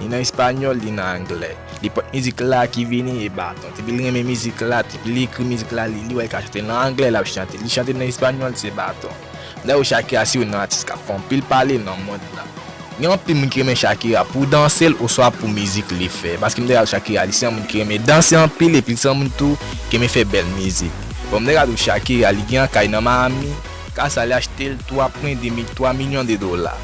Li nan español li nan anglè. Li pot mizik la ki vini e baton. Depi li renmen mizik la, depi li ekri mizik la li wè li ka chante nan anglè lap chante, li chante nan español se baton. Lè ou Shakira se youn nan atis kap fè anpil pale nan mond la. Gen anpil moun ki renmen Shakira pou dansel oswa pou mizik li fè. Paske mwen te gad Shakira li se yon moun ki renmen danse anpil epi li se yon moun tou ki renmen fè bèl mizik. Bon mwen te gad ou Shakira li gen yon kay nan Miami, kay sa li achtel 3 pwen 2 mil 3 milyon de dola.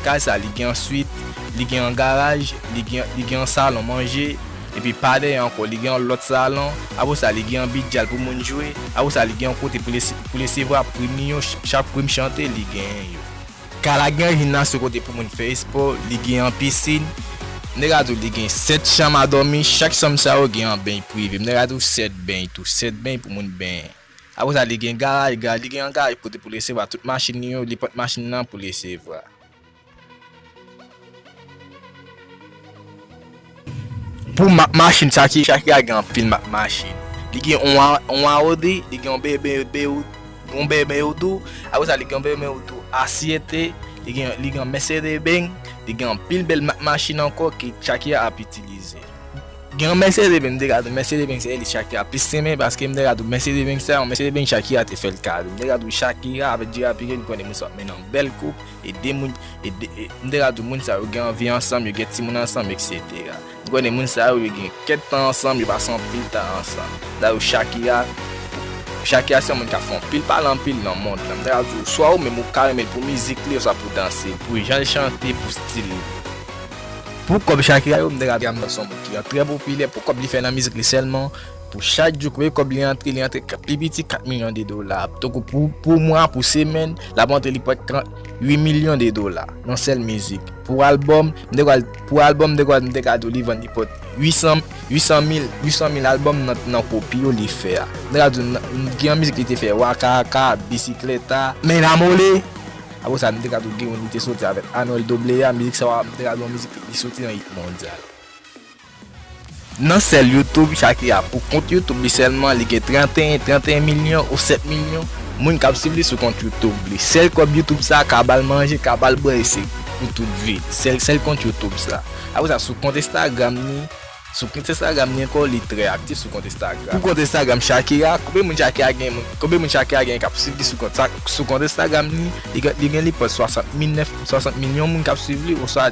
Kay sa li gen yon swit, Li gen yon garaj, li gen li gen yon salon manje, epi pa dèyè ankò li gen yon lòt salon, apre sa li gen yon bidyal pou moun jwe, apre sa li gen yon kote pou lese pou lesevwa prim li yo, chak prim chante li genyen yo. Kay la gen yon jimnas yon kote pou moun fè espò, li gen yon pisin, m te ka di w li gen 7 chanm a dòmi, chak chanm sa yo gen yon beny prive, m te ka di w 7 beny tou, 7 beny pou moun benyen. Apre sa li gen garaj, garaj li gen yon garaj kote pou lesevwa tout machin li yo, li pot machin nan pou lesevwa. Pou machin sa ki chak ya gen anpil machin. Li gen yon aodi, li gen yon BMW, yon BMW tou. Apre sa li gen yon BMW tou asyete, li gen li gen Mercedes Benz, li gen anpil bèl machin ankò ki chak ya ap itilize. Gen yon Mercedes Benz, m te ka di Mercedes Benz se elis chak ya plis renmen paske m te ka di Mercedes Benz sa, yon Mercedes Benz chak ya te fèl kado. M te ka di chak ya avèk J-Wapinie m konnen moun sa ap mennen yon bèl koup. Ede moun, ede, m te ka di w moun sa yo gen anvi ansanm, yo gen timoun ansanm eksetera. M konnen moun sa yo, yo gen kèk tan ansanm, yo pase anpil tan ansanm. Dayou Shakira, Shakira se yon moun k ap fè anpil pale anpil nan mond lan. M ta ka di w swa ou menm ou ka renmen l pou mizik li oswa pou danse l, pou jan l chante, pou stil li. Pou kòb Shakira yo, m ta ka di Amdan se yon moun ki trè popilè pou kòb li fè nan mizik li sèlman. Pou chak jou premye kòb li antre, li antre pi piti 4 milyon de dola. Tankou pou mwa, pou semèn, l ap antre li pwèt 38 milyon de dola nan sèl mizik. Pou albòm, m te kwè l, pou albòm m te kwè l, m te ka di w li vann li pwèt 800, 800 mil, 800 mil albòm nan kopi yo li fè a. M te ka di w nan, gen yon mizik li te fè Waka Aka, Bisikleta. Me Enamole. Apre sa, m te ka di w gen youn li te soti avèk Anuel Doblea, mizik sa a, m te ka di w yon mizik li soti nan it mondyal. Nan sèl youtube Shakira pou kont youtube li sèlman li gen 31 31 milyon ou 7 milyon moun kap swiv li sou kont youtube li sèl kòb youtube sa ka bal manje ka bal bwè e se pou tout vi sèl sèl kont youtube sa apre sa sou kont instagram ni sou kont instagram ni ankò li trè aktif sou kont instagram pou kont instagram Shakira konbyen moun Shakira gen konbyen moun Shakira gen kap swiv li sou kont sa sou kont instagram ni li gen li gen li pòs 60 milyon moun kap swiv li oswa